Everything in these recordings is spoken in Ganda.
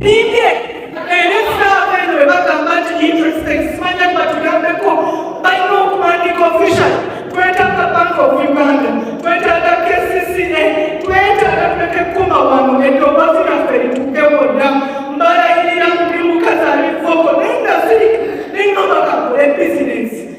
Ninge elesa abeno webagamba nti interest ekismanya batugambeko balina okuwandiika official twetaaga bank of Uganda twetaaga KCCA twetaaga tuleke kukoma wano eddoboozi lyaffe lituuke wonna mbalayirira buli mukazi alivoko naye nga ziri nengamba kakole bizinesi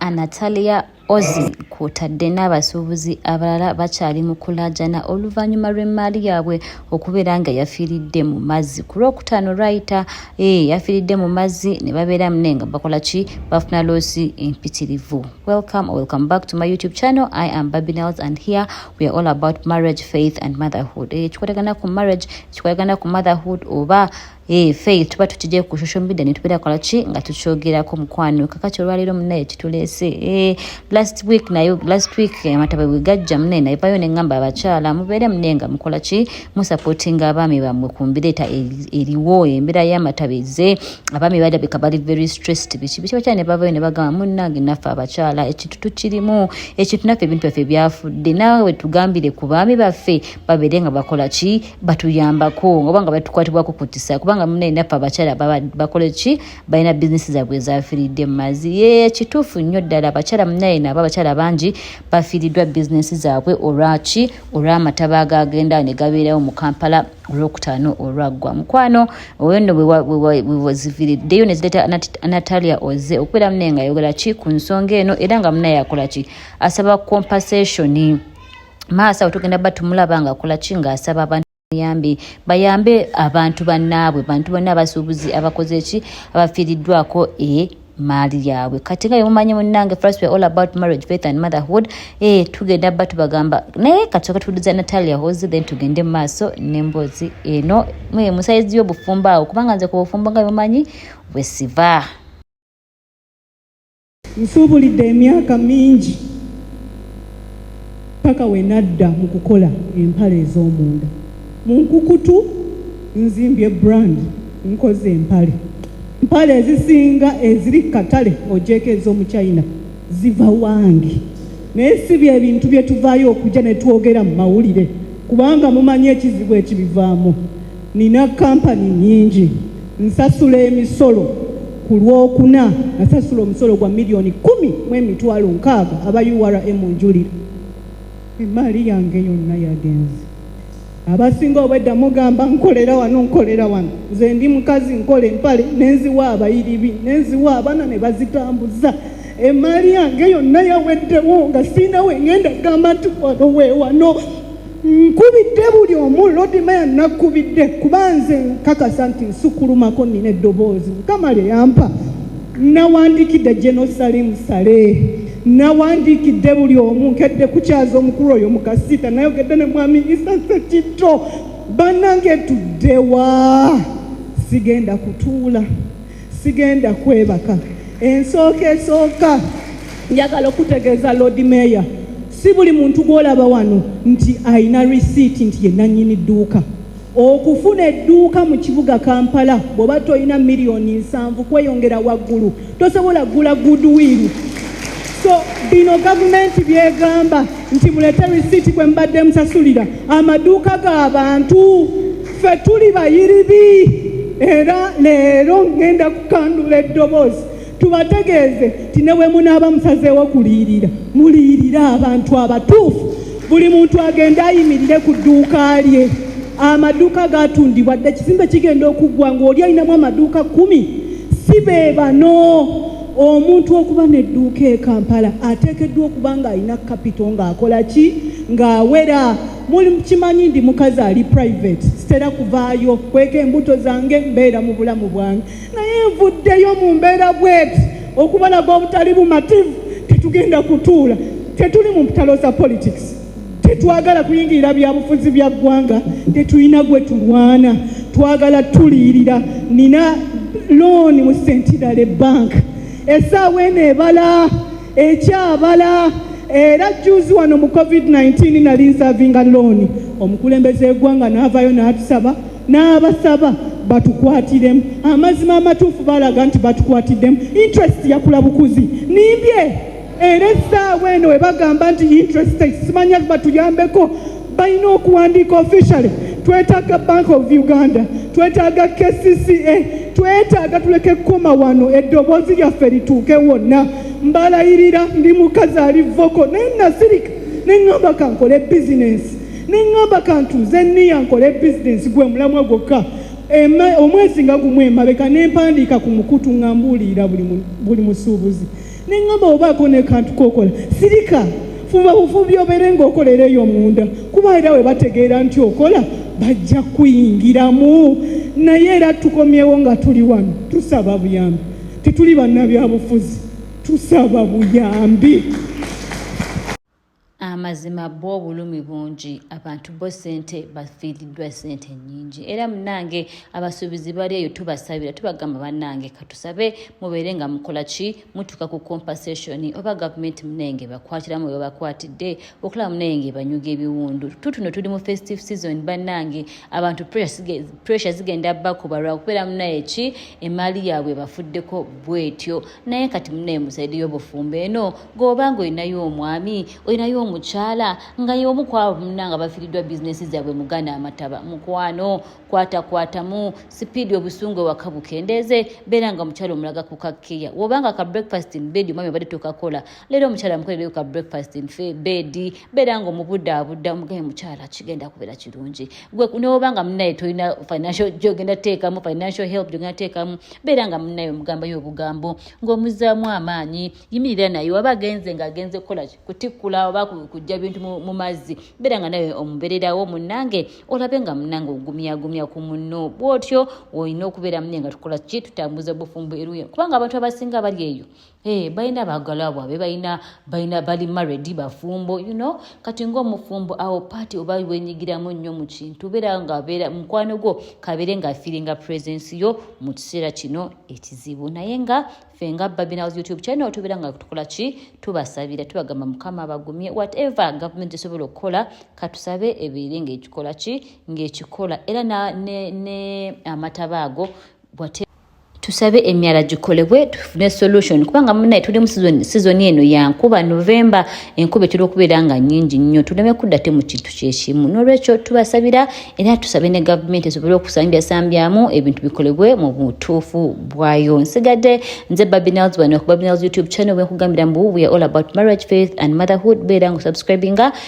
Anatalia Ozi kwotadde n'abasuubuzi abalala bakyali mu kulaajana oluvannyuma lw'emmaali yaabwe okubeera nga yafiiridde mu mazzi ku lwokutaano lwayita eh, yafiiridde mu mazzi ne babeera mune nga bakola ki bafuna loosi empitirivu welcome or welcome back to my youtube channel i am babinels and here we are all about marriage faith and motherhood eh, ekikwatagana ku marriage ekikwatagana ku motherhood oba Hey, Faith tuba tutidde ku social media ne tubeera kola ki nga tukyogerako mukwano kakati olwaleero munaye kituleese eh, last week naye last week amataba bwe gajja munaye naye vayo ne ngamba abakyala mubeere munaye nga mukola ki musupportinga abaami bammwe ku mbira eta eriwo embeera y'amataba eze abaami balabika bali very stressed biki biki bakyala ne bavayo ne bagamba munnange naffe abakyala ekintu tukirimu ekintu naffe ebintu byaffe byafudde naawe tugambire ku baami baffe babeere nga bakola ki batuyambako oba nga batukwatibwako ku kisa kubanga munaye naffe abakyala bakole ki balina bizinesi zaabwe ezafiiridde mu mazzi ye kituufu nnyo ddala abakyala munaye naabo abakyala bangi bafiiriddwa bizinesi zaabwe olwaki olw'amataba agagenda ne gabeerawo mu kampala olwokutaano olwaggwa mukwano oyo nno wewaziviriddeyo nezireeta natalia oze okubeera munaye nga ayogera ki ku nsonga eno era nga munaye akola ki asaba compensation maaso awo tugenda ba tumulaba nga akola ki ng'asaba abantu yambi bayambe abantu bannaabwe bantu banna abasuubuzi abakoze eki abafiiriddwako e maali yaabwe kati nga yemumanyi munnange first we all about marriage faith and motherhood e tugenda ba tubagamba naye kati oka tuwuliza natalia hozi then tugende mu maaso n'emboozi eno musayizi y'obufumbo awo kubanga nze ku bufumbo nga yemumanyi bwesiva Nsuubulidde emyaka mingi paka we nadda mu kukola empale ez'omunda mu nkukutu nzimbye brand nkoze empale empale ezisinga eziri katale ogyeko ez'omu china ziva wange naye si bye bintu bye tuvaayo okujja ne twogera mu mawulire kubanga mumanyi ekizibu ekibivaamu Nina kampani nyingi nsasula emisolo ku lwokuna nasasula omusolo gwa miliyoni kumi mu emitwalo nkaaga aba urm njulira emaali yange yonna yagenze abasinga obwedda mugamba nkolera wano nkolera wano nze ndi mukazi nkola empale nenziwa abayiribi nenziwa abana ne bazitambuza emaali yange yonna yaweddewo nga siina wengenda gamba nti wano wewano Nkubidde buli omu Lord Mayor nakubidde kuba nze nkakasa nti nsukulumako nina eddoboozi mukama lye yampa nawandiikidde General Salim Saleh nawandiikidde buli omu nkedde kukyaza omukulu oyo mukasiita nayogedde ne mwami Isa Sekitto banange tuddewa sigenda kutuula Sigenda kwebaka. Ensooka esooka njagala okutegeeza Lord Mayor, si buli muntu gw'olaba wano nti alina receipt nti ye nannyini dduuka. Okufuna edduuka mu kibuga Kampala bw'oba tolina miliyoni nsanvu kweyongera waggulu tosobola kugula goodwill. So bino gavumenti byegamba nti mulete receipt kwe mbadde musasulira amaduuka ga bantu. ffe tuli bayiribi era leero ŋŋenda kukandula eddoboozi tubategeeze nti ne bwe munaaba musazeewo kuliyirira muliyirire abantu abatuufu buli muntu agende ayimirire ku dduuka lye amaduuka gatundibwa dde ekizimbe kigenda okuggwa ng'oli alinamu amaduuka kkumi si be bano omuntu okuba n'edduuka e kampala ateekeddwa okuba ng'alina kapito ng'akola ki ng'awera Muli kimanyi ndi mukazi ali private sitera kuvaayo kweka embuto zange mbeera mu bulamu bwange naye nvuddeyo mu mbeera bweti okubalaga obutali bumativu tetugenda kutuula tetuli mu mpitalo za politics tetwagala kuyingirira byabufuzi bya ggwanga tetulina gwe tulwana twagala tuliirira nina looni mu sentidale banka esaawa eno ebala ekyabala era juzi wano mu covid-19 nali nsavinga looni omukulembeze egwanga n'avaayo n'atusaba n'abasaba batukwatiremu amazima amatuufu balaga nti batukwatiddemu interest yakula bukuzi nimbye era essaawa eno webagamba nti interest simanya batuyambeko balina okuwandiika officially twetaaga bank of uganda twetaaga kcca twetaaga tuleke kukoma wano eddoboozi lyaffe lituuke wonna mbalayirira ndi mukazi ali voko naye nasirika neŋŋamba kankole bizinensi neŋŋamba kantuuze niya nkole bizinensi gwe mulamwa gwokka omwezi nga gumu emabeka nempandiika ku mukutu nga mbuulirira buli musuubuzi ne ŋŋamba obaako ne kantu kookola sirika fuba bufubi obeere ng'okolera eyo munda kuba era we bategeera nti okola bajja kuyingiramu naye era tukomyewo nga tuli wano tusaba buyambi tetuli bannabyabufuzi tusaba buyambi amazima bwo obulumi bungi abantu bo sente bafiiriddwa sente nyingi era munange abasuubizi bali eyo tubasabira tubagamba banange katusabe mubeere nga mukola ki mutuuka ku compensation oba gavumenti munenge bakwatiramu webakwatidde okulaba munenge ebanyuga ebiwundu tutuno tuli mu festive season banange abantu pressure zigenda bakuba lwakubeera munaye ki emaali yaabwe bafuddeko bwetyo naye kati munaye musaidi yobufumbo eno goba nga olinayo omwami olinayo omukyala nga yomu kwabo muna nga bafiridwa bizinesi zabwe mugana amataba mukwano kwatakwatamu sipiidi obusungu ewaka bukendeeze beera nga omukyala omulaga kukakkeya wobanga ka breakfast mbedi omwami obadde tokakola leero omukyala mukolereyo ka breakfast nfe bedi beera nga omubudaabuda omugaye mukyala kigenda kubeera kirungi gwe newoba nga munaye tolina financial gyogenda teekamu financial help gyogenda teekamu beera nga munaye omugambayo obugambo ng'omuzzaamu amaanyi yimirira naye waba agenze nga agenze kukola kutikkula oba kujja bintu mu mazzi beera nga naye omubererawo munange olabe nga munange ogumyagumya ku munno bwotyo olina okubeera munaye nga tukola ki tutambuza obufumbo eruyo kubanga abantu abasinga abali eyo Hey, eh, balina baagala bwabe balina balina bali maredi bafumbo you know kati ngaomufumbo awo paati oba wenyigiramu nnyo mu kintu beera ngabeera mukwano gwo kabeere nga firinga presence yo mu kiseera kino ekizibu naye nga fe nga babinaws youtube channel tubeera nga tukola ki tubasabira tubagamba mukama abagumye whatever government esobola okukola katusabe ebeere ngaekikola ki ngaekikola era ne, ne, ne amataba ago tusabe emyala gikolebwe tufune solution kubanga munaye tuli mu sizoni eno yankuba novemba enkuba etera okubeera nga nyingi nnyo tuleme kudda te mu kintu kyekimu n'olwekyo tubasabira era tusabe ne gavumenti esobole okusambyasambyaamu ebintu bikolebwe mu butuufu bwayo nsigadde nze babinals wano ku babinals youtube channel wenkugambira mbu we all about marriage faith and motherhood beera nga osubscribinga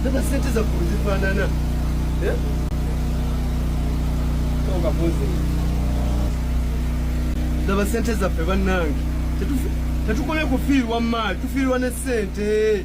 Ndoba eh? sente za kuzifanana. Eh? Toka poze. Ndoba sente za fe banange. Tetufi tetukole kufiirwa mali, tufiirwa ne sente.